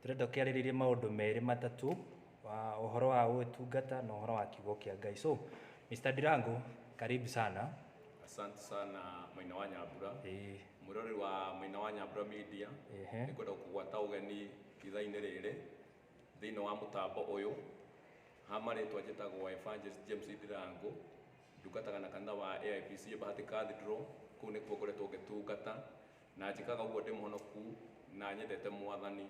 Tũrenda ũkĩarĩrĩrie maũndũ merĩ matatũ, ũhoro wa ũtungata na ũhoro wa kiugo kĩa Ngai. So, Mr. Ndirango, karibu sana. Asante sana Maina wa Nyambura. Ĩĩ. Mwĩrori wa Maina wa Nyambura Media. Ehe. Nĩ kwenda kũgwata ũgeni ithaa-inĩ rĩrĩ thĩinĩ wa mũtambo ũyũ. Ha marĩtwa njĩtagwo Evangelist James Ndirango. Ndungataga na kanitha wa AIPC Bahati Cathedral. Kũu nĩkuo ngoretwo ngĩtungata. Na njĩkaga ũguo ndĩ mũhonoku na nyendete Mwathani.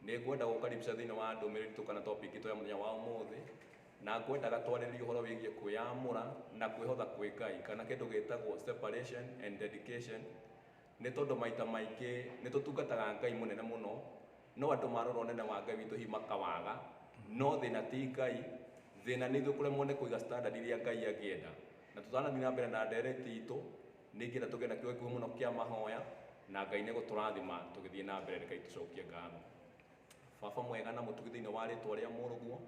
Nĩ ngwenda gũgũkaribisha thĩinĩ wa ndũmĩrĩri itũ kana topic itũ ya mũthenya wa ũmũthĩ, na ngwendaga twarĩrĩrie ũhoro wĩgiĩ kwĩyamũra na kwĩhotha kwĩ Ngai, kana kĩndũ gĩtagwo separation and dedication, nĩ tondũ maita maingĩ nĩ tũtungataga Ngai mũnene mũno, no andũ marora ũnene wa Ngai witũ hihi makawaga, no thĩna ti Ngai, thĩna nĩ ithuĩ kũremwo nĩ kũiga standard iria Ngai angĩenda. Na tũtanathiĩ na mbere na ndereti itũ, Ningĩ na tũgĩe na kĩugo gĩkuhĩ mũno kĩa mahoya, na Ngai nĩgũtũrathima tũgĩthiĩ na mbere. Rekei tũcokie ngatho. Baba mwega na mũtugi thĩinĩ wa rĩtwa rĩa mũrũguo,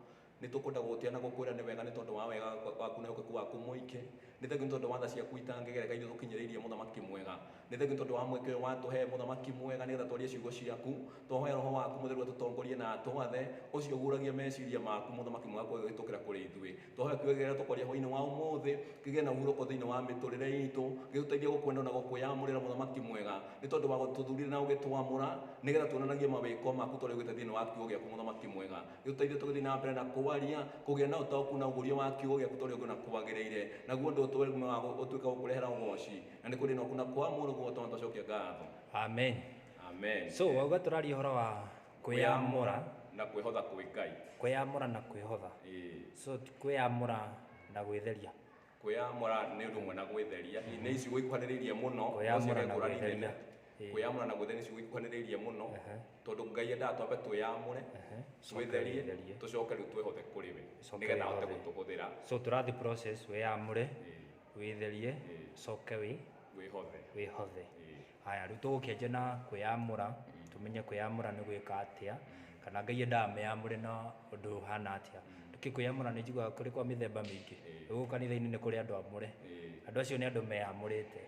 nĩtũkwenda gũgũtĩa na gũkwĩra nĩ wega nĩ tondũ wa wega waku na wĩhokeku waku mũingĩ. Nĩ thengiũ nĩ tondũ wa tha ciaku itangĩgereka iria ũtũkinyĩrĩirie mũthamaki mwega. Nĩ thengiũ nĩ tondũ wa mweke ũyũ watũhe mũthamaki mwega nĩgetha twarie ciugo ciaku. Twahoya roho waku mũtheru atũtongorie na atwathe, ũcio ũguũragia meciria maku mũthamaki mwega gũgĩtũkĩra kũrĩ ithuĩ. Tũhoya kiugo gĩkĩ gĩa tũkoria hwainĩ wa ũmũthĩ kĩgĩe na ũhurũko thĩinĩ wa mĩtũrĩre itũ gĩtũteithie gũkwenda na gũkwĩyamũrĩra mũthamaki mwega nĩ tondũ wa gũtũthurire na ũgĩtwamũra nĩgetha tuonanagie mawĩko maku tũrĩa ũgĩte thĩinĩ wa kiugo gĩaku mũthamaki mwega gĩtũteithie tũgĩthiĩ na mbere na kwaria kũgĩa na ũtaũku na ũgũria wa kiugo gĩaku tũrĩa ũngĩ na kwagĩrĩire naguo ũndũ ũtũwe kuma wa ũtuĩka gũkũrehera ũgoci na nĩ kũrĩ na ũku na kwamũrũguo twana twacokia ngatho Amen. amen So, wauga tũraria ũhoro wa Kwĩyamũra. Na kwĩhotha kwĩ Ngai. Kwĩyamũra na kwĩhotha. Ĩĩ. So ti kwĩyamũra na gwĩtheria. Kwĩyamũra nĩ ũndũ ũmwe na gwĩtheria. Nĩ icigo ikuhanĩrĩirie mũno. No Kwĩyamũra ciĩga na ngũrani gwĩtheria. nene. Ĩĩ. Kwĩyamũra na gwĩtheria nĩ icigo ikuhanĩrĩirie mũno. Ehe. Tondũ Ngai endaga twambe twĩyamũre, Ehe. Coke twĩtherie, wĩtherie. tũcoke rĩu twĩhothe kũrĩ we. Coke Nĩgetha ahote wĩhothe. gũtũhũthĩra. So tũrathiĩ process, wĩyamũre, Ĩĩ. wĩtherie, Ĩĩ. coke wĩ, Wĩhothe. wĩhothe. Ĩĩ. Haya, rĩu tũgũkĩanjia na kwĩyamũra, tũmenye kwĩyamũra nĩ gwĩka atĩa, kana Ngai endaga meyamũre na ũndũ ũhana atĩa. Nĩkĩ kwĩyamũra nĩ njiguaga kũrĩ kwa mĩthemba mĩingĩ? Gũkũ kanitha-inĩ nĩ kũrĩ andũ amũre, andũ acio nĩ andũ meyamũrĩte.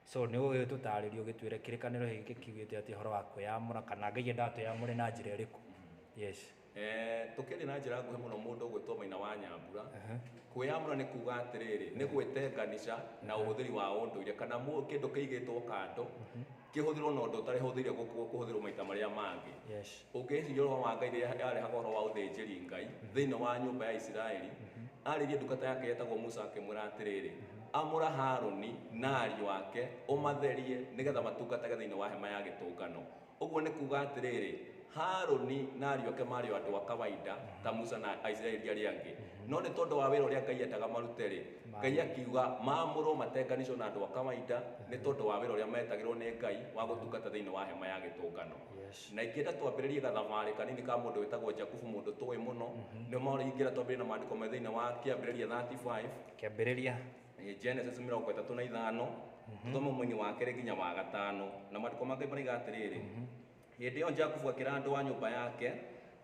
So nĩ ũgĩtũtarĩria ũgĩtwĩre kĩrĩkanĩro gĩkĩ kiugĩte atĩa ũhoro wa kwĩyamũra, kana Ngai endaga twĩyamũre na njĩra ĩrĩkũ? Yes. Eh, tũkĩthiĩ na njĩra nguhĩ mũno mũndũ ũgwĩtwo maina wa nyambura kwĩyamũra nĩ kuga atĩrĩrĩ nĩ gwĩtenganisha na ũhũthĩri wa ũndũire kana mũ- kĩndũ kĩigĩtwo kando kĩhũthĩrwo na ũndũ ũtarĩ hũthĩire gũkũ- kũhũthĩrwo maita marĩa mangĩ Yes. ũngĩciria ũhoro wa ngai rĩrĩa yarehaga ũhoro wa ũthĩnjĩri ngai thĩinĩ wa nyũmba ya isiraeli arĩrie ndungata yake yetagwo musa akĩmwĩra atĩrĩrĩ amũra haruni na ariũ ake ũmatherie nĩgetha matungatage thĩinĩ wa hema ya gĩtũngano Ũguo nĩ kuuga atĩrĩrĩ, Harũni na ariũ ake maarĩ o andũ a kawaida ta Musa na Aisiraeli arĩa angĩ. No nĩ tondũ wa wĩra ũrĩa Ngai eendaga marute-rĩ, Ngai akiuga maamũrwo matenganĩcwo na andũ a kawaida nĩ tondũ wa wĩra ũrĩa meetagĩrwo nĩ Ngai wa gũtungata thĩinĩ wa hema ya gĩtũngano. Na ingĩenda twambĩrĩrie gathabarĩ kanini ka mũndũ wĩtagwo Jakubu mũndũ tũĩ mũno, nĩ ũmarĩ ingĩenda twambĩrĩrie na maandĩko marĩ thĩinĩ wa Kĩambĩrĩria 35. Kĩambĩrĩria Eh, Genesis mĩrongo ĩtatũ na ithano tũthome mwini wa kerĩ nginya wa gatano na maandĩko ma Ngai maraiga atĩrĩrĩ hĩndĩ ĩyo Jakubu akĩra andũ a nyũmba yake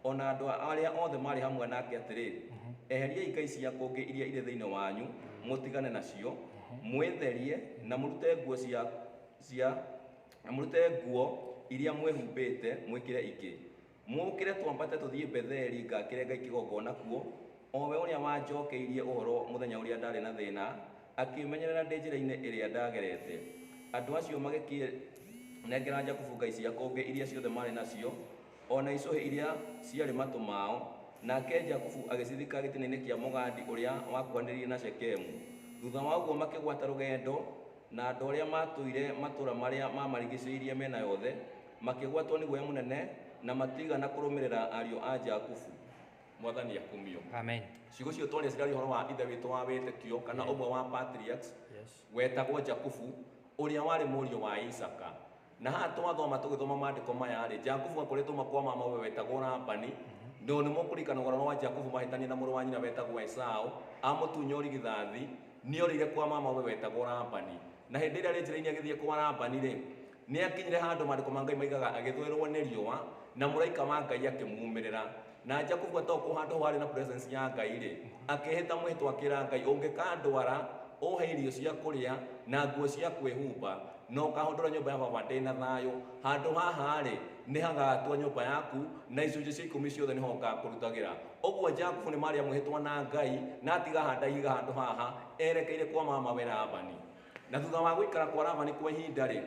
ona andũ arĩa othe marĩ hamwe nake atĩrĩ eheriai ngai cia kũngĩ iria irĩ thĩinĩ wanyu mũtigane nacio mwĩtherie na mũrute nguo cia cia na mũrute nguo iria mwĩhumbĩte mwĩkĩre ingĩ Mũũkĩre twambate tũthiĩ Betheli ngakĩre Ngai kĩgongona kuo, o we ũrĩa wanjookeirie ũhoro mũthenya ũrĩa ndaarĩ na thĩĩna, akĩĩmenyerera ndĩ njĩrainĩ ĩrĩa ndaagerete. Andũ acio magĩkĩnengera Jakubu ngai cia kũngĩ iria ciothe maarĩ nacio, o na icũhĩ iria ciarĩ matũ mao, nake Jakubu agĩcithika gĩtinainĩ kĩa mũgandi ũrĩa wakuhanĩrĩirie na Shekemu. Thuutha wa ũguo makĩgwata rũgendo, na andũ arĩa maatũire matũũra marĩa maamarigicĩirie mĩena yothe, Makĩgwatwo nĩ guoya mũnene na matiigana kũrũmĩrĩra ariũ a Jakubu. Mwathani akumio. Amen. Ciugo icio twaria cirarĩ ũhoro wa Ithe witũ wa wĩtĩkio kana ũmwe wa patriarchs Yes. wetagwo Jakubu ũrĩa warĩ mũriũ wa Isaka. Na haha twathoma tũgĩthoma maandĩko maya-rĩ, Jakubu akoretwo makwa mama we wetagwo Labani, no nĩ mũkũririkana ũhoro wa Jakubu mahĩtania na mũrũ wa nyina wetagwo Esau, amũtunya ũrigithathi, nĩ orĩire kwa mama we wetagwo Labani. Na hĩndĩ ĩrĩa arĩ njĩra-inĩ agĩthiĩ kwa Labani-rĩ, Nĩ aakinyire handũ Maandĩko ma Ngai moigaga agĩthũĩrũo nĩ riũa, na mũraika wa Ngai akĩmuumĩrĩra. Na Jakubu atoka o handũ hau haarĩ na presence ya Ngai-rĩ, akĩĩhĩta mwĩhĩtwa akĩra Ngai, Ũngĩkandwara, ũũhe irio cia kũrĩa, na nguo cia kwĩhumba, na ũkahũndũra nyũmba ya baba ndĩ na thayũ, handũ haha-rĩ, nĩ hagaatua nyũmba yaku, na icunjĩ cia ikũmi ciothe nĩho ngaakũrutagĩra. Ũguo Jakubu nĩ marĩa mwĩhĩtwa na Ngai, na atiga handaihiga handũ haha, erekeire kwa mamawe Labani. Na thutha wa gũikara kwa Labani kwa ihinda-rĩ,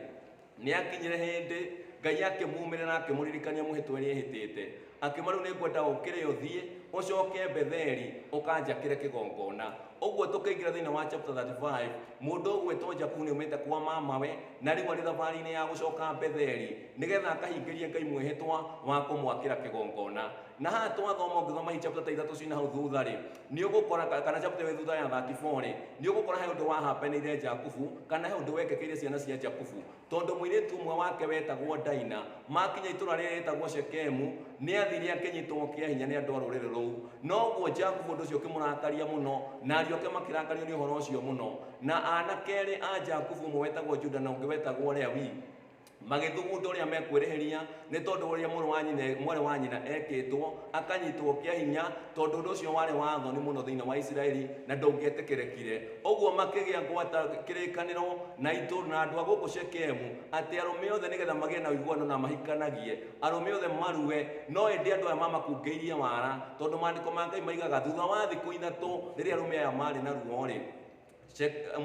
nĩakinyire hĩndĩ Ngai akĩmuumĩrĩra akĩmũririkania mũhĩtwa ĩrĩa ehĩtĩte, akiuma, Rĩu nĩngwenda ũkĩre ũthiĩ, ũcoke Betheli, ũkanjakĩre kĩgongona. Ũguo tũkĩingĩra thĩinĩ wa chapter 35, mũndũ ũgwĩtwo Jakubu nĩaumĩte kwa mamawe, na rĩu arĩ thabarĩ-inĩ ya gũcoka Betheli, nĩgetha akahingĩrie Ngai mwĩhĩtwa wa kũmwakĩra kĩgongona. na haha twathoma ũngĩthoma hii chapter ta ithatũ ciĩ na hau thutha rĩ nĩ ũgũkora ka- kana chapter ĩyo thutha ya 34 rĩ nĩ ũgũkora he ũndũ wahapeneire jakubu kana he ũndũ wekekeire ciana cia jakubu tondũ mũirĩtu ũmwe wake wetagwo daina makinya itũra rĩrĩa rĩtagwo shekemu nĩ athire akĩnyitwo kĩa hinya nĩ andũ a rũrĩrĩ rũu noguo jakubu ũndũ ũcio ũkĩmũrakaria mũno na ariũ ake makĩrakario nĩ ũhoro ũcio mũno na anake erĩ a jakubu ũmwe wetagwo juda na ũngĩ wetagwo lewi magĩthugunda ũrĩa mekwĩrĩhĩria nĩ tondũ ũrĩa mũrũ wa nyina mwarĩ wa nyina ekĩtwo akanyitwo kĩa hinya tondũ ũndũ ũcio warĩ wa thoni mũno thĩinĩ wa isiraeli na ndũngĩetĩkĩrĩkire ũguo makĩgĩa ngwata kĩrĩkanĩro na itũũra na andũ a gũkũ shekemu atĩ arũme othe nĩgetha magĩe na ũiguano na mahikanagie arũme othe marue no ĩndĩ andũ aya mamakungĩirie wara tondũ maandĩko ma ngai maigaga thutha wa thikũ ithatũ rĩrĩa arũme aya maarĩ na ruo rĩ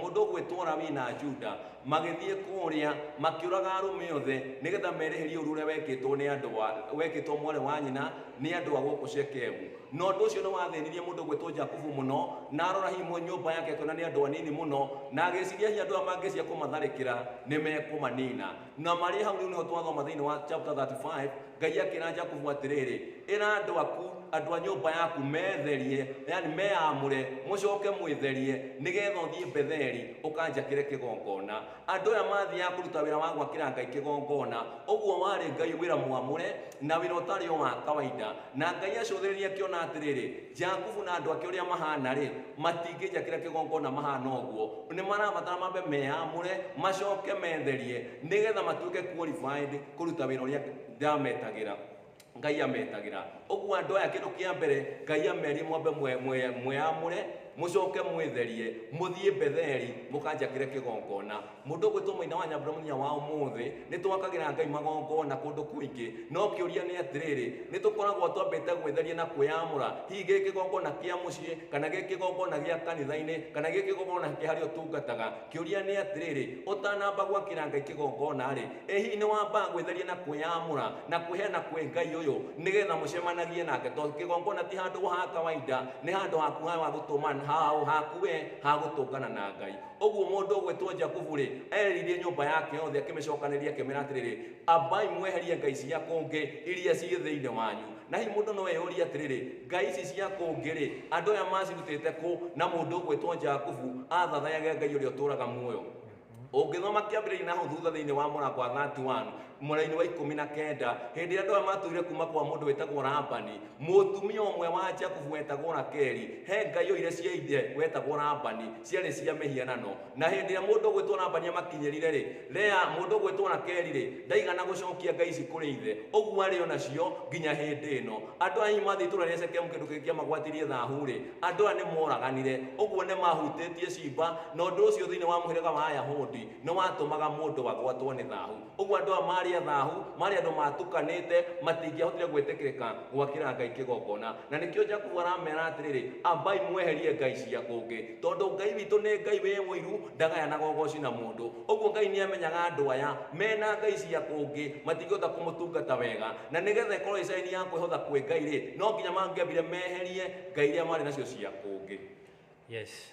mũndũ ũgwĩtwara wĩ na Juda magĩthiĩ kũrĩa makĩũraga arũme othe nĩgetha mereherie ũru ũrĩa wekĩtwo nĩ andũ wa wekĩtwo mwarĩ wa nyina nĩ andũ a gũkũ Shekemu na ũndũ ũcio nĩ wathĩnirie mũndũ ũgwĩtwo Jakubu mũno na arora hihi nyũmba yake akĩona nĩ andũ anini mũno na agĩciria hihi andũ aya mangĩcia kũmatharĩkĩra nĩ mekũmanina na marĩ hau rĩu nĩho twathoma thĩinĩ wa chapter 35 ngai akĩra jakubu atĩrĩrĩ ĩra andũ aku andũ a nyũmba yaku metherie yani meamũre mũcoke mwĩtherie nĩgetha ũthiĩ betheli ũkanjakĩre kĩgongona andũ aya mathiaga kũruta wĩra wa gwakĩra ngai kĩgongona ũguo warĩ ngai wĩra mwamũre na wĩra ũtarĩ o wa kawaida na ngai acũthĩrĩria akĩona atĩrĩrĩ Jakubu na andũ ake ũrĩa mahana-rĩ, matingĩnjakĩra kĩgongona mahana ũguo. Nĩ marabatara mambe meyamũre, macoke metherie, nĩgetha matuĩke qualified kũruta wĩra ũrĩa ndametagĩra, Ngai ametagĩra. Ũguo andũ aya kĩndũ kĩa mbere, Ngai amerie mwambe mwe- mwe- mweyamũre, mũcoke mwĩtherie, mũthiĩ Betheli, mũkanjakĩre kĩgongona. Mũndũ ũgwĩtwo Maina wa Nyambura mũthenya wa ũmũthĩ, nĩ twakagĩra Ngai magongona kũndũ kũingĩ. No kĩũria nĩ atĩrĩrĩ, nĩ tũkoragwo twambĩte gwĩtheria na kwĩyamũra, hihi gĩ kĩgongona kĩa mũciĩ, kana gĩ kĩgongona gĩa kanitha-inĩ, kana gĩ kĩgongona kĩa harĩa ũtungataga? Kĩũria nĩ atĩrĩrĩ, ũtanamba gwakĩra Ngai kĩgongona-rĩ, ĩ hihi nĩ wambaga gwĩtheria na kwĩyamũra na kwĩheana kwĩ Ngai ũyũ nĩ getha mũcemanagie nake? Tondũ kĩgongona ti handũ ha kawainda, nĩ handũ haku ha gũtũma, haku we ha gũtũngana na Ngai. Ũguo mũndũ ũgwĩtwo Jakubu-rĩ, eeririe nyũmba yake yothe, akĩmĩcookanĩrĩria, akĩmera atĩrĩrĩ, Ambai mweherie ngai cia kũngĩ iria ciĩ thĩinĩ wanyu. Na hihi mũndũ no eyũrie atĩrĩrĩ, 'Ngai ici cia kũngĩ-rĩ, andũ aya maacirutĩte kũ? Na mũndũ ũgwĩtwo Jakubu athathayage Ngai ũrĩa ũtũũraga muoyo. Ũngĩthoma kĩambĩrĩria na hau thutha thĩinĩ wa mũrango wa 31, mwena-inĩ wa ikũmi na kenda hĩndĩ ĩrĩa andũ aya matũire kuma kwa mũndũ wĩtagwo rabani mũtumia ũmwe wa jakubu wetagwo rakeli he ngai oire cia ithe wetagwo rabani ciarĩ cia mĩhianano na hĩndĩ ĩrĩa mũndũ ũgwĩtwo rabani amakinyĩrire rĩ rea mũndũ ũgwĩtwo rakeli rĩ ndaigana gũcokia ngai ici kũrĩ ithe ũguo arĩ o nacio nginya hĩndĩ ĩno andũ aya mathiĩ itũra rĩa shekemu kĩndũ kĩngĩ kĩamagwatirie thahu rĩ andũ aya nĩ moraganire ũguo nĩ mahutĩtie ciimba na ũndũ ũcio thĩinĩ wa mũhĩrĩga wa ayahudi Nĩ watũmaga mũndũ agwatwo nĩ thahu. Ũguo andũ aya maarĩ athahu, maarĩ andũ maatukanĩte, matingĩahotire gwĩtĩkĩrĩka gwakĩra Ngai kĩgongona. Na nĩkĩo Jakubu aramera atĩrĩrĩ, Ambai mweherie ngai cia kũngĩ. Tondũ Ngai witũ nĩ Ngai wĩ ũiru, ndagayanaga ũgooci na mũndũ. Ũguo Ngai nĩ amenyaga andũ aya mena ngai cia kũngĩ matingĩhota kũmũtungata wega. Na nĩgetha ĩkorũo ĩĩ caĩni ya kwĩhotha kwĩ Ngai-rĩ, no nginya mangĩambire meherie ngai iria maarĩ nacio cia kũngĩ. Yes.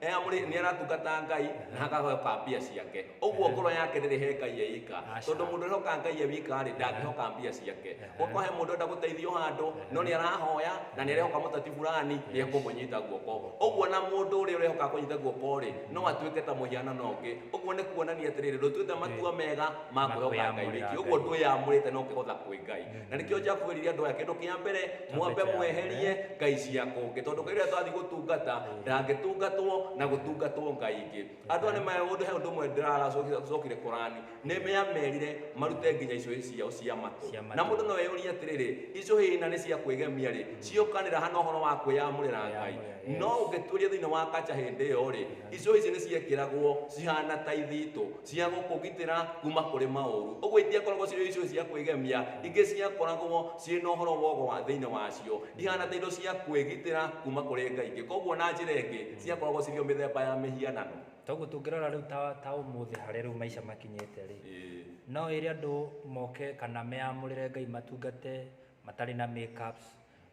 Eh, amũrĩ- nĩ aratungata ngai na hakahoka mbia ciake ũguo ngoro yake ndĩrĩ he ngai e ika Aca. tondũ mũndũ ũrehoka ngai e wika rĩ ndangĩhoka mbia ciake gũkwa he mũndũ enda gũteithio handũ no nĩ arahoya na nĩ arehoka mũteti burani nĩ ekũmũnyita guoko ũguo na mũndũ ũrĩa ũrehoka kũnyita guoko rĩ no atuĩke ta mũhianano ũngĩ ũguo nĩ kuonania atĩrĩrĩ ndũtuĩte matua mega ma kwĩhoka ngai wiki ũguo ndwĩyamũrĩte no ũkĩhotha kwĩ ngai na nĩkĩo jakubu eririe andũ aya kĩndũ kĩa mbere Kĩambe mwambe kĩa mweherie mbere. ngai cia kũngĩ tondũ ngai ũrĩa tũrathiĩ gũtungata ndangĩtungatwo na gũtungatwo ngai ingĩ andũ aya nĩ ma- ũndũ he ũndũ ũmwe ndĩraracokire korani nĩ meamerire marute nginya icũhĩ ciao cia matũ Cia matũ. na mũndũ no eyũrie atĩrĩrĩ icũhĩ na nĩ cia kwĩgemia rĩ ciokanĩra hana ũhoro wa kwĩyamũrĩra ngai Kwĩyamũrĩra, no yes. ũngĩtuĩria thĩinĩ wa kaca hĩndĩ ĩyo rĩ icũhĩ ici nĩ ciekĩragwo cihana ta ithitũ cia gũkũgitĩra kuma kũrĩ maũru ũguo itiakoragwo cirĩ icio cia kwĩgemia ingĩ ciakoragwo ciĩ na ũhoro wogo wa thĩinĩ wacio ihana ta indo cia kwĩgitĩra kuma kũrĩ ngai ingĩ koguo na njĩra ĩngĩ ciakoragwo cirĩ o mĩthemba ya mĩhianano Toguo tũngĩrora rĩu ta, ta ũmũthĩ harĩa rĩu maica makinyĩte rĩ, Ĩĩ. no ĩrĩ andũ moke kana meyamũrĩre Ngai matungate matarĩ na makeups,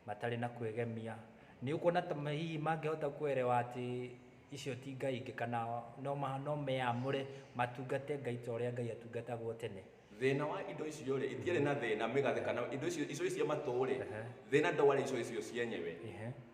matarĩ na kwĩgemia. Nĩ ũkuona ta ma- hihi mangĩhota kuelewa atĩ Icio ti ngai ingĩ kana no meyamũre matungate Ngai ta ũrĩa Ngai atungatagwo tene. Thĩna wa indo icio-rĩ, itiarĩ na thĩna, mĩgathĩ kana indo icio, icũhĩ cia matũ-rĩ, thĩna ndwarĩ icũhĩ icio cienyewe,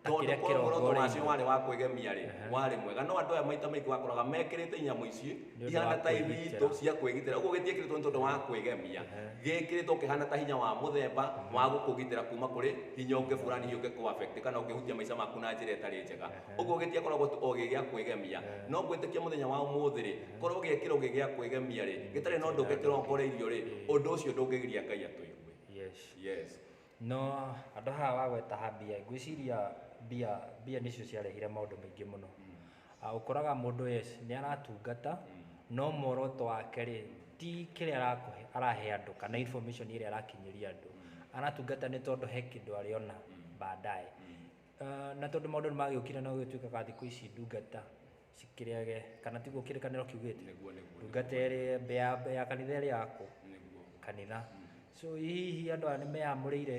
tondũ korwo muoroto wacio warĩ wa kwĩgemia-rĩ, warĩ mwega. No andũ aya maita maingĩ wakoraga mekĩrĩte inyamũ ici ihana ta ithitũ cia kwĩgitĩra, ũguo gĩtiekĩrĩtwo nĩ tondũ wa kwĩgemia, gĩkĩrĩtwo kĩhana ta hinya wa mũthemba wa gũkũgitĩra kuma kũrĩ hinya ũngĩ fulani hihi ũngĩkũ affect kana ũngĩhutia maica maku na njĩra ĩtarĩ njega. Ũguo gĩtiakoragwo tu o gĩ gĩa kwĩgemia, no gwĩtĩkia mũthenya wa ũmũthĩ-rĩ, korũo gĩekĩrũo gĩ gĩa kwĩgemia-rĩ, gĩtarĩ na ũndũ ũngĩ kĩrongoreirio-rĩ, ũndũ ũcio ndũngĩgiria Ngai atũigue. Yes. Yes. No andũ haha wagweta ha mbia, ngwĩciria mbia, mbia nĩcio ciarehire maũndũ maingĩ mũno. Ũkoraga mũndũ yes, nĩ aratungata, no muoroto wake-rĩ, ti kĩrĩa arakũhe, arahe andũ kana information ĩrĩa arakinyĩria andũ. Aratungata nĩ tondũ he kĩndũ arĩona baadaye. Ah, na tondũ maũndũ nĩ magĩũkire no gĩtuĩkaga thikũ ici ndungata cikĩrĩage kana tiguo kĩrĩkanĩro kiugĩte Nĩguo, nĩguo, ndungata ĩrĩ mbĩ ya, mbĩ ya kanitha ĩrĩ yakũ nĩguo kanitha so hihi andũ aya nĩ meyamũrĩire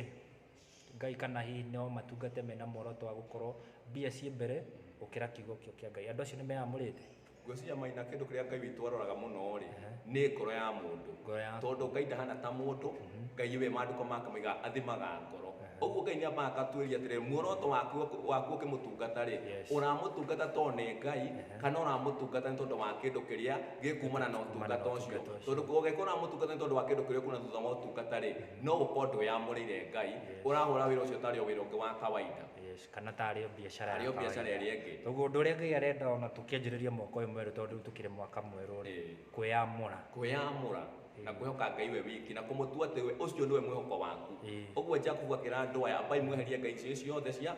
ngai kana hihi no matungate mena muoroto wa gũkorwo mbia ciĩ mbere gũkĩra kiugo kĩo kĩa ngai andũ acio nĩ meyamũrĩte Ngwĩciria Maina kĩndũ kĩrĩa Ngai witũ aroraga mũno-rĩ, nĩ ngoro ya mũndũ. Ngoro ya- Tondũ Ngai ndahana ta mũndũ, Ngai we maandĩko make moigaga athimaga ngoro. Ũguo Ngai nĩ ambaga agatuĩria atĩrĩrĩ, muoroto waku waku ũkĩmũtungata-rĩ, Yes. ũramũtungata tondũ nĩ Ngai, kana ũramũtungata nĩ tondũ wa kĩndũ kĩrĩa gĩkuumana na ũtungata ũcio. ũtungata ũcio. Tondũ ũngĩkorwo ũramũtungata nĩ tondũ wa kĩndũ kĩrĩa ũkuona thutha wa ũtungata-rĩ, no gũkorwo ndwĩyamũrĩire Ngai, ũrahũra wĩra ũcio tarĩ o wĩra ũngĩ wa kawaida. Yes. kana ta arĩ o biacara Arĩ o ya biacara kawaida. ĩrĩa ĩngĩ. Ũguo ũndũ ũrĩa Ngai arenda ona tũkĩanjĩrĩria mwaka ũyũ mwerũ tondũ rĩu tũkĩrĩ mwaka mwerũ rĩ, Ĩĩ. kwĩyamũra. kwĩyamũra na kwĩhoka ngai we wiki na kũmũtua atĩ we ũcio nĩwe mwĩhoko waku Ĩĩ. ũguo jakubu akĩra andũ aya ambai mweherie ngai icio ciothe cia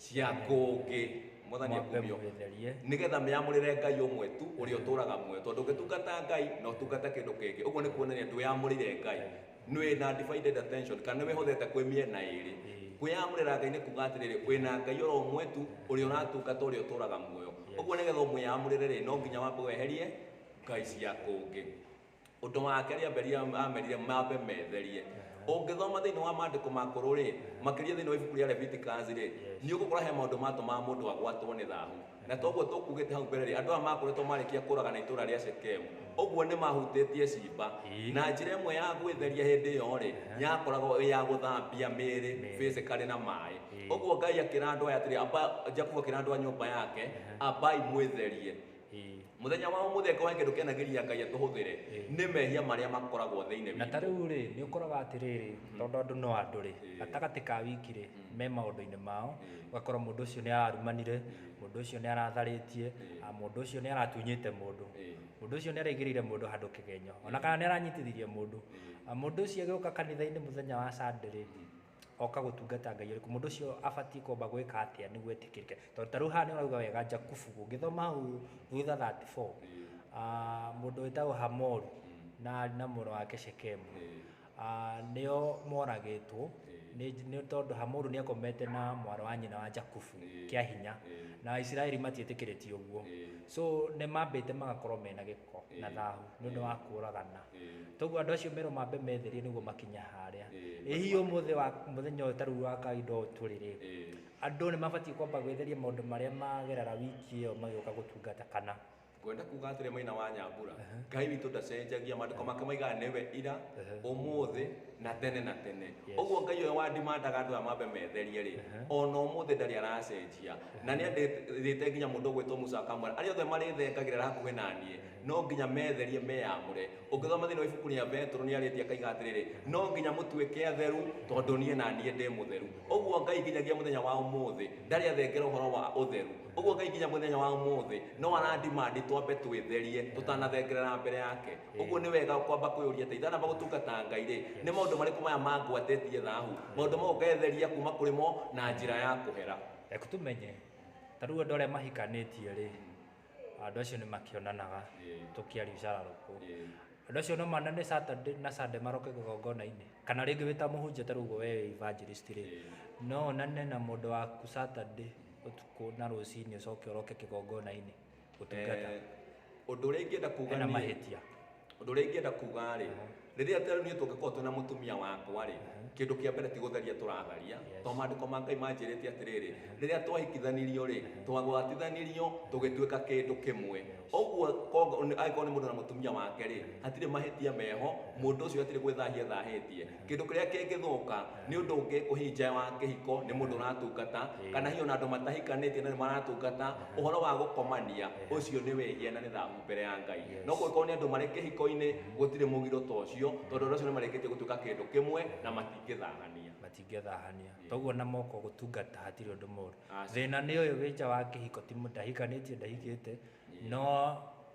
cia kũngĩ mwathani Mwambe akumio mwĩtherie. nĩgetha mĩamũrĩre ngai ũmwe tu ũrĩa ũtũraga muoyo tondũ ũngĩtungata ngai na ũtungate kĩndũ kĩngĩ ũguo nĩ kuonania ndwĩyamũrĩire ngai Nĩ na divided attention kana nĩ wĩhothete kwĩ mĩena ĩrĩ. Kwĩyamũrĩra Ngai nĩ kuuga atĩrĩrĩ, wĩ na Ngai o ro ũmwe tu ũrĩa ũratungata ũrĩa ũtũũraga muoyo. Ũguo nĩ getha ũmwĩyamũrĩre rĩ, no nginya wambe weherie ngai cia kũngĩ. Ũndũ wa kerĩ Abeli aamerire mambe metherie. Ũngĩthoma thĩinĩ wa maandĩko makũrũ rĩ, makĩria thĩinĩ wa ibuku rĩa Leviticus rĩ, nĩ ũgũkora he maũndũ maatũmaga mũndũ agwatwo nĩ thahu. Na ta ũguo tũkuugĩte hau mbere-rĩ, andũ aya makoretwo marĩkia kũũragana itũũra rĩa Shekemu, ũguo nĩmahutĩtie ciimba. Na njĩra ĩmwe ya gwĩtheria hĩndĩ ĩyo-rĩ, yakoragwo ĩ ya gũthambia mĩĩrĩ physically na maaĩ. Ũguo Ngai akĩra andũ aya atĩrĩ, amba, Jakubu akĩra andũ a nyũmba yake, Ambai mwĩtherie. Mũthenya wa ũmũthĩ angĩkorwo he kĩndũ kĩanagĩria Ngai atũhũthĩre, nĩ mehia marĩa makoragwo thĩinĩ witũ. Na ta rĩu-rĩ, nĩũkoraga atĩrĩrĩ, tondũ andũ no andũ-rĩ, gatagatĩ ka wiki-rĩ, me maũndũ-inĩ mao ũgakora mũndũ ũcio nĩ ararumanire mũndũ ũcio nĩ aratharĩtie ah, mũndũ ũcio nĩ aratunyĩte mũndũ mũndũ ũcio nĩ araigĩrĩire mũndũ handũ kĩgenyo ona kana nĩ aranyitithirie mũndũ Ah, mũndũ ũcio agĩũka kanitha-inĩ mũthenya wa Sunday rĩ oka gũtungata ngai ũrĩkũ mũndũ ũcio abatiĩ kwamba gwĩka atĩa nĩguo etĩkĩrĩke tondũ ta rĩu haha nĩ ũrauga wega njakubu ũngĩthoma hau thutha 34 ah, mũndũ wĩtagwo hamoru na na mũrũ wake shekemu Aa, nĩo moragĩtwo Ĩĩ. nĩ nĩ tondũ Hamoru nĩakomete na mwarĩ wa nyina wa Jakubu Ĩĩ. kĩa hinya Ĩĩ. na Aisiraeli matiĩtĩkĩrĩtie ũguo Ĩĩ. so nĩmambĩte magakorwo mena gĩko na Ĩĩ. thahu nĩ ũndũ wa kũragana Ĩĩ. toguo andũ acio merwo mambe metherie nĩguo makinya harĩa Ĩĩ. ĩ hihi ũmũthĩ wa mũthenya ũyũ ta rĩu wa kawaida ũũ tũrĩ rĩ Ĩĩ. andũ nĩmabatiĩ kwamba gwĩtheria maũndũ marĩa magerera wiki ĩyo magĩũka gũtungata kana ngwenda kuga atĩrĩ maina wa nyambura ngai witũ ndacenjagia maandĩko make maigaga nĩwe ira ũmũthĩ na tene na tene Yes. ũguo ngai ũyũ wandimandaga andũ aya mambe metherie rĩ ona ũmũthĩ ndarĩ aracenjia na nĩ andĩte nginya mũndũ ũgwĩtwo musa akamwĩra arĩa othe marĩthengagĩrĩra hakuhĩ na niĩ no nginya metherie meyamũre ũngĩthoma thĩinĩ wa ibuku rĩa betũrũ nĩ arĩtie akaiga atĩrĩrĩ no nginya mũtuĩke atheru tondũ niĩ na niĩ ndĩ mũtheru ũguo ngai nginyagia mũthenya wa ũmũthĩ ndarĩ athengera ũhoro wa ũtheru Ũguo Ngai nginya mũthenya wa ũmũthĩ no arandimandi twambe twĩtherie tũtanathengerera mbere yake. Ũguo nĩ wega kwamba kwĩyũria atĩrĩ, ndanamba gũtungata Ngai-rĩ, nĩ maũndũ marĩkũ maya mangwatĩtie thahu? Maũndũ mau ngetheria kuma kũrĩ mo na njĩra ya kũhera. Reke tũmenye, ta rĩu andũ arĩa mahikanĩtie-rĩ, andũ acio nĩ makĩonanaga tũkĩaria ũcararũkũ. Andũ acio no monane Saturday na Sunday maroke kĩgongona-inĩ? Kana rĩngĩ wĩ ta mũhunjia ta rĩu ũguo we wĩ evangelist-rĩ, no onane na mũndũ waku Saturday, ũtukũ na rũcinĩ ũcoke ũroke kĩgongona-inĩ gũtungata Eh, ũndũ ũrĩa ingĩenda kuga hena niĩ- mahĩtia ũndũ ũrĩa ingĩenda kuga rĩ rĩrĩa tarĩu niĩ tũngĩkorwo twĩna mũtumia wakwa rĩ kĩndũ kĩa mbere ti gũtharia tũratharia Yes. tondũ maandĩko ma ngai manjĩrĩte atĩrĩrĩ rĩrĩa twahikithanirio rĩ twagwatithanirio tũgĩtuĩka kĩndũ kĩmwe ũguo kongo- nĩ- angĩkorwo nĩ mũndũ na mũtumia wake rĩ hatirĩ mahĩtia meho mũndũ ũcio hatirĩ gwĩthahia ethahĩtie Kĩndũ kĩrĩa kĩngĩthũka nĩ ũndũ ũngĩ ũhihi nja wa kĩhiko nĩ mũndũ ũratungata, kana hihi ona andũ matahikanĩtie na nĩ maratungata, ũhoro wa gũkomania, ũcio nĩ wĩhia na nĩ thahu mbere ya Ngai. No kũngĩkorwo nĩ andũ marĩ kĩhiko-inĩ, gũtirĩ mũgiro ta ũcio, tondũ andũ acio nĩ marĩkĩtie gũtuĩka kĩndũ kĩmwe na matingĩthahania. Matingĩthahania. Toguo na moko gũtungata hatirĩ ũndũ mũru. Thĩna nĩ ũyũ wĩ nja wa kĩhiko ti mũndũ ndahikanĩtie ndahikĩte, no...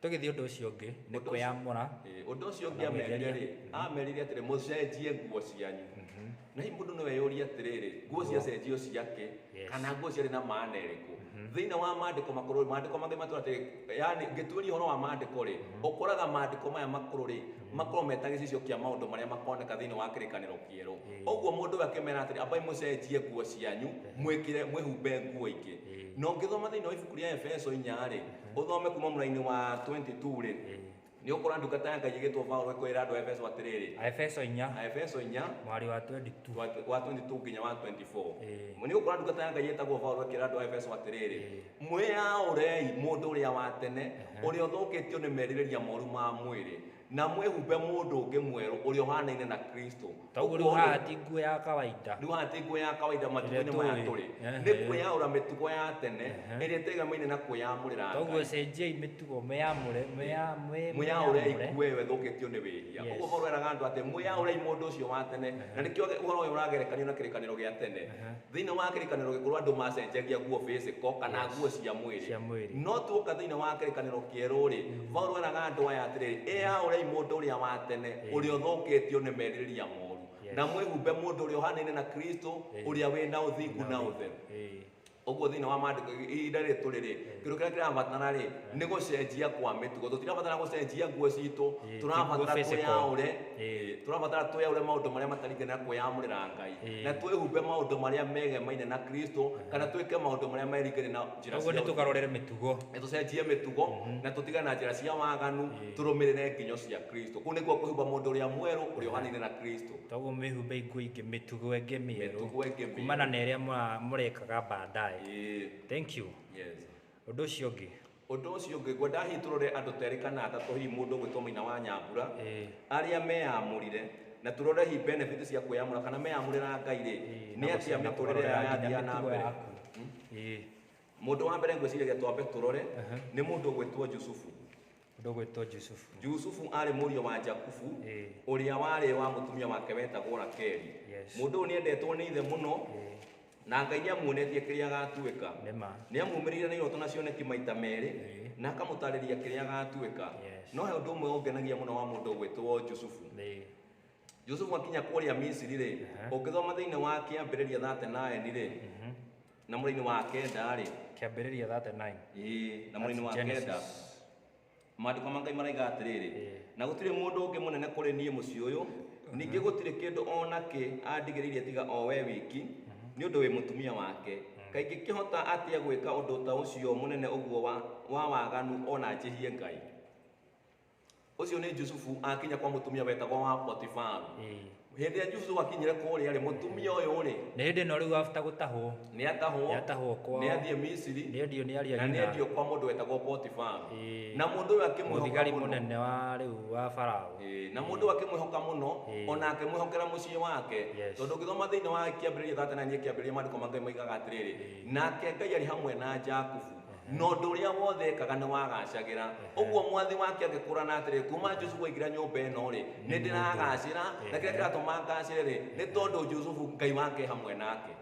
Tũgĩthiĩ ũndũ ũcio ũngĩ nĩ Ũndũ ũcio- kwĩyamũra. Ĩĩ, ũndũ ũcio ũngĩ Kana amerire gwĩtheria. rĩ amerire atĩrĩ mũcenjie nguo cianyu na hihi mũndũ nĩwe yũria atĩrĩrĩ nguo ciacenjio ciake Yes. kana nguo ciarĩ na maana ĩrĩkũ thĩinĩ wa maandĩko makũrũ maandĩko mangĩ matũra atĩrĩ yani ngĩtuĩria ũhoro wa maandĩko rĩ ũkoraga maandĩko maya makũrũ rĩ makorwo meta gĩcicio kĩa maũndũ marĩa makoneka thĩinĩ wa kĩrĩkanĩro kĩerũ Ĩĩ. ũguo mũndũ ũyũ akĩmera atĩrĩ ambai mũcenjie nguo cianyu mwĩkĩre mwĩhumbe nguo ingĩ Ĩĩ. na ũngĩthoma thĩinĩ wa ibuku rĩa efeso inya rĩ Ũthome kuma mũrainĩ wa 22 rĩ nĩ ũkora ndungata ya Ngai ĩgĩtwo Paulo ĩkwĩra andũ a Efeso atĩrĩrĩ Aefeso 4 Aefeso 4 mwari wa 22 wa wa 22 nginya wa 24 Ĩĩ. nĩ ũkora ndungata ya Ngai ĩtagwo Paulo ĩkĩra andũ a Efeso atĩrĩrĩ Ĩĩ. mwĩyaũrei mũndũ ũrĩa wa tene ũrĩa ũthũkĩtio nĩ merirĩria moru ma mwĩrĩ Na mwĩhumbe mũndũ ũngĩ mwerũ ũrĩa ũhaanaine na Kristo. Ta ũguo rĩu Ũguo-rĩ, haha ti nguo ya kawaida. Rĩu haha ti nguo ya kawaida Ĩrĩa matukũ-inĩ maya tũĩ. tũrĩ. Ehe. Nĩ kwĩyaũra mĩtugo ya tene Ehe. ĩrĩa ĩtegamaine na kwĩyamũrĩra Ta ũguo Ngai. cenjiai mĩtugo, mwĩyamũre, mwĩya- mwĩ- Mwĩyaũrei mwĩyamũre. nguo ĩyo ĩthũkĩtio nĩ wĩhia. Yes. Ũguo Paulo eraga andũ atĩ, Mwĩyaũrei mũndũ ũcio wa tene. Na nĩkĩo ũhoro ũyũ ũragerekanio na kĩrĩkanĩro gĩa tene. Ehe. Thĩinĩ wa Kĩrĩkanĩro Gĩkũrũ andũ maacenjagia nguo physical kana Yes. nguo cia mwĩrĩ. Cia mwĩrĩ. No tuoka thĩinĩ wa Kĩrĩkanĩro Kĩerũ-rĩ, Paulo eraga andũ aya atĩrĩrĩ, Ĩyaũrai mũndũ ũrĩa wa tene Ĩĩ. ũrĩa ũthũkĩtio nĩ merirĩria moru, Yes. na mwĩhumbe mũndũ ũrĩa ũhanaine na Kristo, Ĩĩ. ũrĩa wĩ na ũthingu na ũtheru. Ĩĩ. Ũguo thĩinĩ wa maandĩko ihinda rĩrĩ tũrĩ-rĩ, kĩndũ kĩrĩa kĩrabatara rĩ nĩ gũcenjia kwa mĩtugo tũtirabatara gũcenjia nguo citũ Ĩĩ, tũrabatara ti nguo physical. twĩyaũre Ĩĩ. Ĩĩ, tũrabatara twĩyaũre maũndũ marĩa mataringaine na kwĩyamũrĩra ngai Ĩĩ. na twĩhumbe maũndũ marĩa megemaine na kristo kana twĩke maũndũ marĩa meringaine na njĩra koguo cia nĩ ũthingu. tũkarorere mĩtugo na tũcenjie mĩtugo na tũtige na njĩra cia waganu Ĩĩ. tũrũmĩrĩre nginyo cia kristo kũu nĩkuo kwĩhumba mũndũ ũrĩa mwerũ ũrĩa ũhanaine na kristo toguo mwĩhumbe nguo ingĩ mĩtugo ĩngĩ mĩerũ Mĩtugo ĩngĩ mĩerũ. kumana na ĩrĩa mũra- mũrekaga baadaye Ĩĩ. thank you Yes. Ũndũ ũcio ũngĩ. Ũndũ ũcio ũngĩ ngwenda hihi tũrore andũ terĩ kana atatũ hihi mũndũ ũgwĩtwo Mũina wa Nyambura Ĩĩ. arĩa meyamũrire na tũrore hihi benefit cia kwĩyamũra kana meyamũrĩra Ngai rĩ nĩ atĩa mĩtũrĩre yao yathiaga na mbere. Ĩĩ. Mũndũ wa mbere ngwĩciragia twambe tũrore nĩ mũndũ ũgwĩtwo Jusufu. Ũndũ ũgwĩtwo Jusufu. Jusufu aarĩ mũriũ wa Jakubu, Ĩĩ. ũrĩa warĩ wa mũtumia wake wetagwo Rakeli. Yes. Mũndũ ũyũ nĩendetwo nĩ ithe mũno, Ĩĩ. na Ngai nĩamuonetie kĩrĩa agatuĩka. Nĩ ma. Nĩamumĩrĩire na iroto na cioneki maita merĩ, Ĩĩ. na akamũtarĩria kĩrĩa agatuĩka. Yes. No he ũndũ ũmwe ũngenagia mũno wa mũndũ ũgwĩtwo Jusufu. Nĩ. Jusufu akinya kũrĩa Misiri-rĩ, Aha. ũngĩthoma thĩinĩ wa kĩambĩrĩria 39-rĩ, Na mũrainĩ wa kenda-rĩ, Kĩambĩrĩria 39. ĩĩ, na mũrainĩ wa That's kenda, Genesis. maandĩko ma Ngai maraiga atĩrĩrĩ, Ĩĩ. na gũtirĩ mũndũ ũngĩ mũnene kũrĩ niĩ mũciĩ ũyũ, ningĩ gũtirĩ kĩndũ o na kĩ andigĩrĩirie tiga o we wiki, nĩ ũndũ wĩ mũtumia wake. Kaĩ ingĩkĩhota atĩa gwĩka ũndũ ta ũcio mũnene ũguo wa wa waganu o na njĩhie Ngai? ucio ni Jusufu akinya kwa mutumia wetagwo wa Potifaru Eh. hindi ya Jusufu akinyire kuria ri mutumia uyu ri na hĩndĩ ĩno rĩu after gũtahwo ni atahwo Nĩatahwo kwao. ni athie Misiri nĩ endio nĩ aria na ni nyina endio kwa mundu wetagwo Potifaru Eh. na mundu uyu akimwihoka mũthigari muno mũnene wa rĩu wa farao Eh, na mundu akimwihoka muno Eh. ona akimwihokera mucii wake Yes. tondu ngithoma thiini wa kiambiriria thate na nyie kiambiriria maandiko ma ngai maigaga atiriri nake ngai ari hamwe na jakubu Na ũndũ ũrĩa wothe ekaga nĩwagaacagĩra. Ũguo mwathi wake agĩkũũrana atĩrĩ, Kuuma Jusufu aingĩra nyũmba ĩno-rĩ, nĩndĩragaacĩra, na kĩrĩa kĩratũma ngaacĩre-rĩ, nĩ tondũ Jusufu Ngai wake e hamwe nake.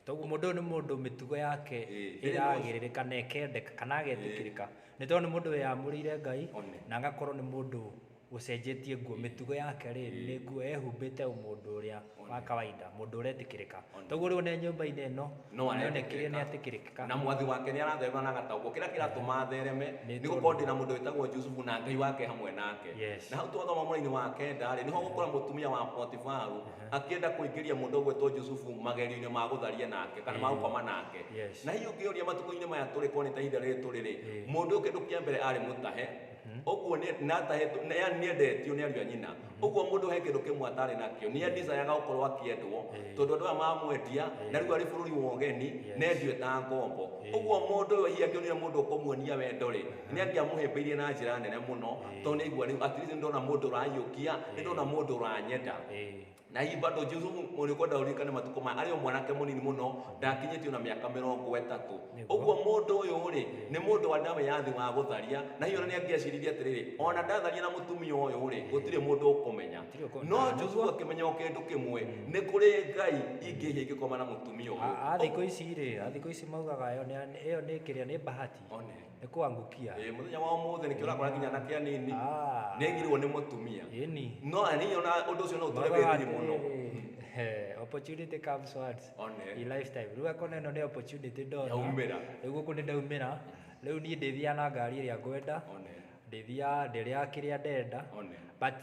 Toguo mũndũ ũyũ nĩ mũndũ mĩtugo yake ĩragĩrĩrĩka na ĩkendeka, kana agetĩkĩrĩka, nĩ tondũ nĩ mũndũ wĩyamũrĩire Ngai, na agakorwo nĩ mũndũ... ũcenjetie nguo, mĩtugo yake rĩ, nĩ nguo ehumbĩte o mũndũ ũrĩa wa kawaida, mũndũ ũretĩkĩrĩka. Toguo rĩu ona e nyũmba-inĩ ĩno, No nĩ onekire nĩ aretĩkĩrĩka. atĩkĩrĩkĩka. Na mwathi wake nĩ aratherũra na agataũkwo. Kĩrĩa kĩratũma athereme, Nĩ nĩ gũkorwo tondũ- ndĩ na mũndũ wĩtagwo Jusufu na Ngai wake hamwe nake. Yes. Na hau twathoma mũraini wa kenda-rĩ, nĩho ũgũkora mũtumia wa Potifaru akĩenda kũingĩria mũndũ ũgwĩtwo Jusufu magerio-inĩ ma gũtharia nake, kana ma Ĩĩ. gũkoma nake. Yes. Na hihi ũngĩyũria matukũ-inĩ maya tũrĩ, korwo nĩ ta ihinda rĩrĩ tũrĩ-rĩ, Ĩĩ. mũndũ ũyũ kĩndũ kĩa mbere arĩ mũtahe, ũguo nĩ na atahĩtwo nĩ yani nĩ endetio nĩ ariũ a nyina ũguo mũndũ he kĩndũ kĩmwe atarĩ nakĩo nĩ andicayaga gũkorwo akĩendwo tondũ andũ aya mamwendia na rĩu arĩ bũrũri wa ũgeni nendio eta ngombo ũguo mũndũ ũyũ hihi angĩonire mũndũ ũkũmuonia wendo rĩ nĩ angĩamũhĩmbĩirie na njĩra nene mũno tondũ nĩ aigua rĩu at least nĩ ndona mũndũ ũraiyũkia nĩ ndona mũndũ ũranyenda na hihi bado Jesu mũrĩkuo ndaũririkane matukũ maya arĩ o mwanake mũnini mũno ndakinyĩtio na mĩaka mĩrongo ĩtatũ Nĩguo. ũguo mũndũ ũyũ rĩ nĩ mũndũ wa ndawa ya thĩ wa gũtharia na hihi ona nĩ angĩaciririe atĩrĩrĩ ona ndatharia na mũtumia ũyũ rĩ gũtirĩ mũndũ ũkũmenya Gũtirĩ ũkũ- no Ah, Jesu nĩguo. akĩmenya o kĩndũ kĩmwe nĩ kũrĩ ngai ingĩhia ingĩkoma na mũtumia ũyũ A- a thikũ ici rĩ a thikũ ici maugaga ĩyo nĩ- ĩyo nĩ kĩrĩa nĩ bahati One. nĩ kwangukia Eh, muthenya wa umuthi nikio rakora nginya na kia nini Ah. nigirwo ni mutumia ĩni no ani ona undu ucio no utore withiri muno Eh, opportunity comes once One. in lifetime rĩu akona ĩno nĩ opportunity ndona Yaumĩra. rĩu gũkũ nĩ ndaumĩra rĩu niĩ ndĩthiaga na ngari ĩrĩa ngwenda One. ndĩthiaga ndĩrĩa kĩrĩa ndenda One. but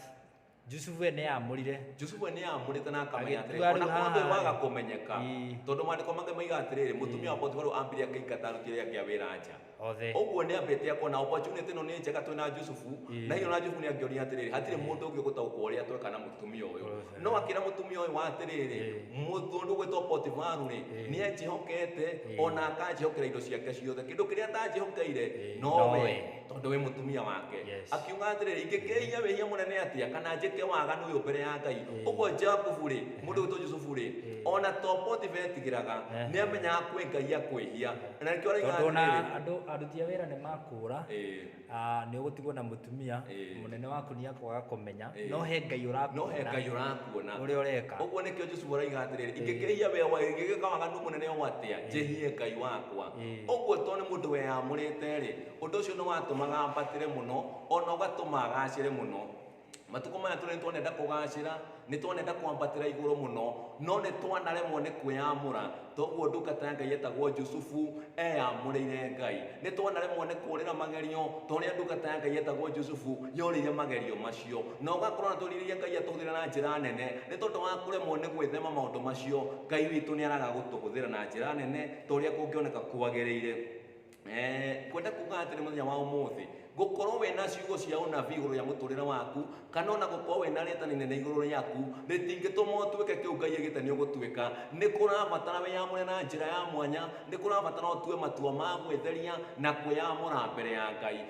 Jusufu we nĩ aamũrire. Jusufu we nĩ aamũrĩte na akamenya atĩrĩ, Agĩtua o na rĩu korwo ndũrĩ haha-rĩ. waga kũmenyeka, Ii. tondũ maandĩko mangĩ moigaga atĩrĩrĩ, mũtumia wa Potifaru aambire akĩingata aruti arĩa angĩ a wĩra nja. Othe. Ũguo nĩ ambĩte akona opportunity ĩno nĩ njega twĩ na Jusufu, Ii. na hihi o na Jusufu nĩ angĩonire atĩrĩrĩ, hatirĩ mũndũ ũngĩ ũgũtaũkwo ũrĩa tweka na mũtumia ũyũ. Othe. No akĩra mũtumia ũyũ atĩrĩrĩ, Ii. mũndũ ũgwĩtwo Potifaru-rĩ, Ii. nĩ anjĩhokete, Ii. o na akanjĩhokera indo ciake ciothe. Kĩndũ kĩrĩa atanjĩhokeire, Ii. nowe. Nowe. tondũ wĩ mũtumia wake Yes. akiuga atĩrĩrĩ ingĩkĩhia wĩhia mũnene atĩa kana njĩke waganu ũyũ mbere ya ngai ũguo jakubu rĩ mũndũ witũ jusufu rĩ ona to potifa etigĩraga Eh. nĩ amenyaga kwĩ ngai akwĩhia na nĩkĩo araiga tondũ na atĩrĩrĩ andũ aruti a wĩra nĩ makũra Ĩĩ. ah, nĩ ũgũtigwo na mũtumia Ĩĩ. mũnene waku nĩ akwaga kũmenya Ĩĩ. no he ngai no he ngai ũrakuona ũrakuona ũrĩa ũreka ũguo nĩkĩo jesu araiga atĩrĩrĩ ingĩkĩhia wĩa wa ingĩgĩka waganu mũnene o atĩa njĩhie ngai wakwa Ĩĩ. ũguo to nĩ mũndũ weyamũrĩte rĩ Ũndũ ũcio nĩ watũmaga ambatĩre mũno, o na ũgatũma agacĩre mũno. Matukũ maya tũrĩ nĩ twanenda kũgacĩra, nĩ twanenda kwambatĩra igũrũ mũno, no nĩ twanaremwo nĩ kwĩyamũra. Toguo ndungata ya Ngai ĩtagwo Jusufu eyamũrĩire Ngai. Nĩ twanaremwo nĩ kũũrĩra magerio, ta ũrĩa ndungata ya Ngai ĩtagwo Jusufu yorĩire magerio macio. Na ũgakorwo nĩ tũrirĩirie Ngai atũhũthĩre na njĩra nene. Nĩ tondũ wa kũremwo nĩ gwĩthema maũndũ macio, Ngai witũ nĩ araga gũtũhũthĩra na njĩra nene ta ũrĩa kũngĩoneka kwagĩrĩire. Eh, kwenda kuga atĩrĩ mũthenya wa ũmũthĩ gũkorwo we na ciugo cia ũnabii igũrũ rĩa mũtũrĩre waku kana ona gũkorwo we na rĩtana inene igũrũ rĩaku rĩtingĩtũma ũtuĩke kĩu ngai agĩte nĩ ũgũtuĩka nĩ kũrabatara wĩyamũre na njĩra ya mwanya nĩ kũrabatara ũtue matua ma gwĩtheria na kwĩyamũra mbere ya ngai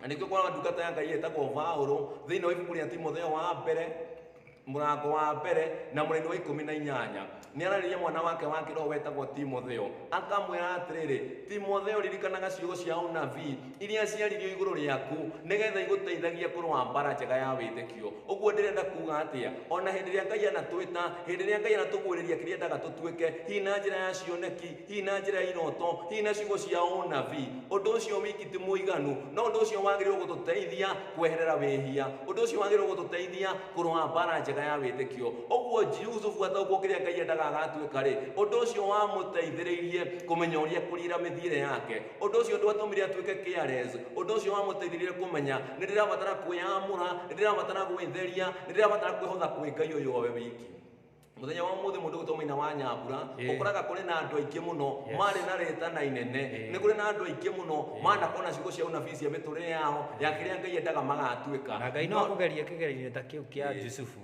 na nĩkĩo kuona ndungata ya ngai ĩtagwo vaũrũ thĩinĩ wa ibuku rĩa timotheo wa mbere mũrango wa mbere na mũraini wa ikũmi na inyanya nĩ ararĩria mwana wake wa kĩroho wetagwo timotheo akamwĩra atĩrĩrĩ timotheo ririkanaga ciugo cia ũnabii iria ciaririo igũrũ rĩaku nĩgetha igũteithagia kũrũa mbara njega ya wĩtĩkio ũguo ndĩrenda kuga atĩa o na hĩndĩ ĩrĩa ngai anatwĩta hĩndĩ ĩrĩa ngai anatũguũrĩria kĩrĩa endaga tũtuĩke hihi na njĩra ya cioneki hihi na njĩra ya iroto hihi na ciugo cia ũnabii ũndũ ũcio wiki ti mũiganu no ũndũ ũcio wagĩrĩirwo gũtũteithia kweherera wĩhia ũndũ ũcio wagĩrĩirwo gũtũteithia kũrũa mbara njega ya wĩtĩkio ũguo jusufu ataũkwo kĩrĩa ngai endaga agatuĩka rĩ ũndũ ũcio wamũteithĩrĩirie kũmenya ũrĩa kũriĩra mĩthiĩre yake Ũndũ ũcio ndwatũmire atuĩke careless. Ũndũ ũcio wamũteithirie kũmenya, nĩ ndĩrabatara kwĩyamũra, nĩ ndĩrabatara gwĩtheria, nĩ ndĩrabatara kwĩhotha kwĩ Ngai ũyũ owe wiki. Mũthenya wa ũmũthĩ mũndũ ũgĩtwo Maina wa Nyambura, Ĩĩ. ũkoraga kũrĩ na andũ aingĩ mũno Yes. marĩ na rĩtana inene. Ĩĩ. Nĩ kũrĩ na andũ aingĩ mũno manakona ciugo cia ũnabii cia mĩtũrĩre yao, ya kĩrĩa Ngai endaga magatuĩka. Na Ngai no No- akũgerie kĩgerio-inĩ ta kĩu kĩa Ĩĩ. Jusufu.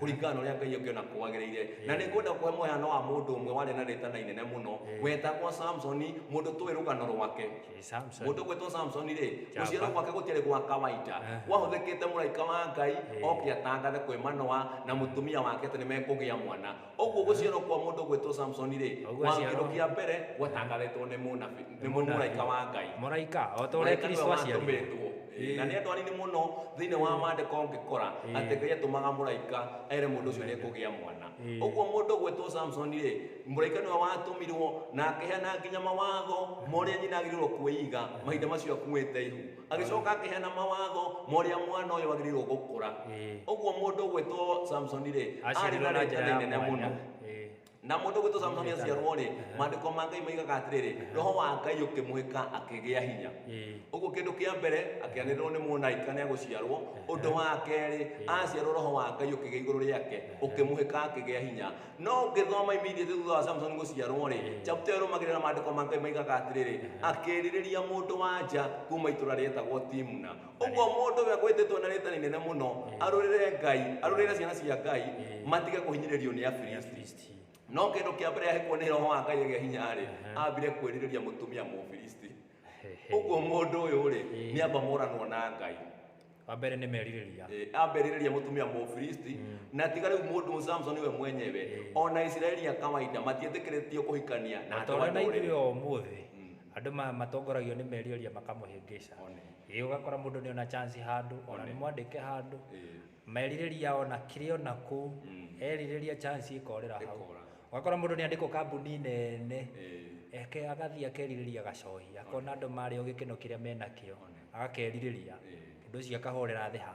kũringana na ũrĩa ngai angĩona kwagĩrĩire na nĩ ngwenda kũhe mũhano wa mũndũ ũmwe warĩ na rĩtana inene mũno wetagwo samsoni mũndũ tũĩ rũgano rwake Ĩ, Samson. mũndũ gwĩtwo samsoni rĩ Jamba. gũciarwo gwake gũtiarĩ gwa kawaida gwahũthĩkĩte mũraika wa ngai oke atangathe kwĩ manoa na mũtumia wake atĩ nĩ mekũgĩa mwana ũguo gũciarwo kwa mũndũ gwĩtwo samsoni rĩ Ũguo kwa aciarwo- kĩndũ kĩa mbere gwatangathĩtwo nĩ mũnabi- nĩ mũraika wa ngai mũraika o ta ũrĩa mũraika nĩwe kristo aciarirwo watũmĩtwo Ĩĩ. na nĩ andũ anini mũno thĩinĩ wa maandĩko ũngĩkora Ĩĩ. atĩ ngai atũmaga mũraika ere mũndũ ũcio nĩ ekũgĩa mwana Ĩĩ. ũguo mũndũ ũgwĩtwo samson rĩ mũraika nĩwe watũmirwo na akĩheana nginya mawatho ma ũrĩa nyina agĩrĩirwo kwĩiga mahinda macio akuĩte ihu agĩcoka akĩheana mawatho ma ũrĩa mwana ũyũ agĩrĩirwo gũkũra Ĩĩ. ũguo mũndũ ũgwĩtwo samson rĩ arĩ Aciarirwo na na njĩra rĩtana ya inene mwanya. mũno Ĩĩ. Na mũndũ ũgwĩtwo Samsoni aciarwo-rĩ, maandĩko ma Ngai moigaga atĩrĩrĩ, roho wa Ngai ũkĩmũhĩka akĩgĩa hinya. Ũguo kĩndũ kĩa mbere, akĩanĩrĩrwo nĩ mũraika nĩ egũciarwo. Ũndũ wa kerĩ, aciarwo roho wa Ngai ũkĩgĩa igũrũ rĩake, ũkĩmũhĩka akĩgĩa hinya. No ũngĩthoma immediately thutha wa Samsoni gũciarwo-rĩ, chapter ĩyo ĩrũmagĩrĩra maandĩko ma Ngai moigaga atĩrĩrĩ, akĩĩrirĩria mũndũ-wa-nja kuuma itũũra rĩetagwo Timna. ũguo mũndũ ũrĩa gwĩtĩtwo na rĩĩta rĩnene mũno Eh. arũrĩre ngai arũrĩre ciana cia ngai Eh. matige kũhinyĩrĩrio nĩ afilisti Afilisti. no kĩndũ kĩa mbere ahĩkwo nĩ roho wa ngai agĩa hinya-rĩ Aha. ambire kwĩrirĩria mũtumia mũfilisti Hehe. ũguo mũndũ ũyũ-rĩ Eh. nĩ amba moranwo na ngai wa mbere nĩ merirĩria Eh, amberirĩria mũtumia mũfilisti na tiga rĩu mũndũ samson we mwenyewe ona isiraeli ya kawaida matietĩkĩrĩtio kũhikania na andũ a tondũ na ndũrĩrĩ. ithuĩ o ũmũthĩ Andũ matongoragio nĩ merioria makamũhĩngĩca. Ĩĩ ũgakora mũndũ nĩ ona chance handũ, ona nĩ mwandĩke handũ, merirĩria ona kĩrĩ ona kũu, erirĩria chance ĩkorĩra hau. Ũgakora mũndũ nĩ andĩkwo kambuni nene, eke agathiĩ akerirĩria gacohi, akona andũ marĩ o gĩkeno kĩrĩa menakĩo, agakerirĩria, ũndũ ũcio akahorera thĩ ha?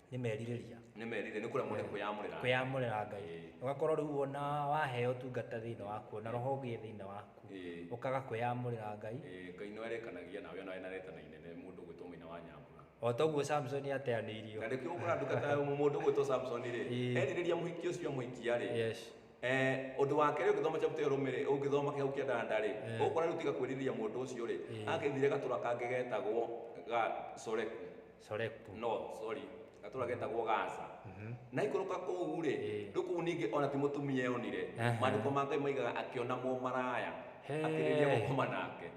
nĩ merirĩria nĩ merire nĩ kũremwo nĩ kwĩyamũrĩra kwĩyamũrĩra ngai Ĩĩ. ũgakorwo rĩu wona waheo tungata thĩinĩ waku na roho ũgĩe thĩinĩ waku Ĩĩ. ũkaga kwĩyamũrĩra ngai Eh, ngai no erekanagia nawe ona wena retana inene mũndũ gwĩtwo mũina wa nyambura o toguo samson ateanĩirio na rĩkĩo ũkora ndungata ya mũndũ gwĩtwo samson rĩ Ĩĩ. erirĩria mũhiki ũcio amũhikia rĩ yes Eh, ũndũ wa kerĩ ũngĩthoma chapter ĩyo rũmĩrĩ ũngĩthoma kĩhau kĩa ndanda rĩ Eh. ũkora rĩu tiga kwĩrirĩria mũndũ ũcio rĩ Ĩĩ. agĩthire gatũra kangĩ getagwo ga soreku Soreku. no sorry gatũra getagwo gaza na ikũrũka kũu rĩ Ĩĩ. ndũ kũu ningĩ ona ti mũtumia eyonire Aha. maandĩko ma ngai maigaga akĩona mũmaraya He. akĩrĩria gũkoma nake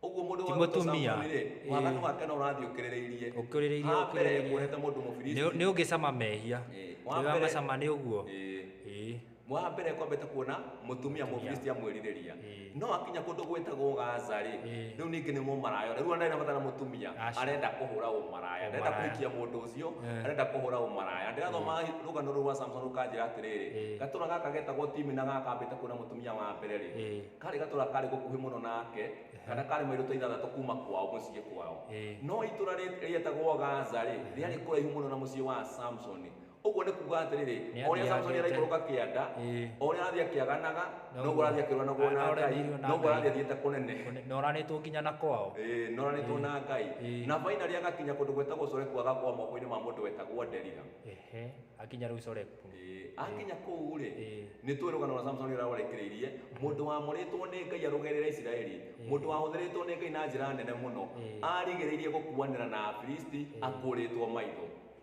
ũguo mũndũ Ti wa gwĩtwo mũtumia. Samsoni rĩ Ĩĩ. wathani wake no ũrathiĩ ũkĩrĩrĩirie Ũkĩrĩrĩirie, Ha mbere ũkĩrĩrĩirie. kuonete mũndũ mũfilisti Nĩ ũngĩcama mehia. Ĩĩ. Wa Nĩ mbere- wamacama nĩ ũguo. Ĩĩ. Ĩĩ. Mwaha mbere ngwambĩte kuona mũtumia mũfilisti amwĩrirĩria Ĩĩ. no akinya kũndũ gwĩtagwo gaza rĩ Ĩĩ. rĩu ningĩ nĩ mũmaraya rĩu ndarĩ nabatara mũtumia Aca. arenda kũhũra ũmaraya arenda Ũmaraya. kũhikia mũndũ ũcio Eh. arenda kũhũra ũmaraya na ndĩrathoma rũgano rũu rwa samson rũkanjĩra atĩrĩrĩ Ĩĩ. gatũra gaka getagwo timi na gaka kambĩte kuona mũtumia wa mbere rĩ Ĩĩ. karĩ gatũra karĩ gũkuhĩ mũno nake kana karĩ mairũ ta ithathatũ kuma kwao mũciĩ kwao Ĩĩ. no itũra rĩ- rĩetagwo gaza rĩ rĩarĩ kũraihu mũno na mũciĩ wa samsoni Ũguo nĩ kuuga atĩrĩrĩ, Nĩ o ũrĩa athiaga Samsoni athiĩte. araikũrũka kĩanda, Ĩĩ. o ũrĩa arathiĩ akĩaganaga, Noguo. noguo arathiĩ akĩrũanagwo na Ngai, Aremeirwo na noguo Ngai. arathiĩ athiĩte kũnene. Kũne- na ũranĩtwo nginya na kwao Ĩĩ, noranĩtwo na Ngai. Ĩĩ. Na finally agakinya kũndũ gwĩtagwo Soreku agakwa moko-inĩ ma mũndũ wetagwo Delila. ehe akinya rĩu coreku Ĩĩ, akinya kũu-rĩ, Ĩĩ. nĩ tũĩ rũgano rwa Samsoni ũrĩa rwarekereirie, mũndũ wamũrĩtwo nĩ Ngai arũgerere Isiraeli, mũndũ wahũthĩrĩtwo nĩ Ngai na njĩra nene mũno, Ĩĩ. arigĩrĩirie gũkuanĩra na Afilisti akũrĩtwo maitho.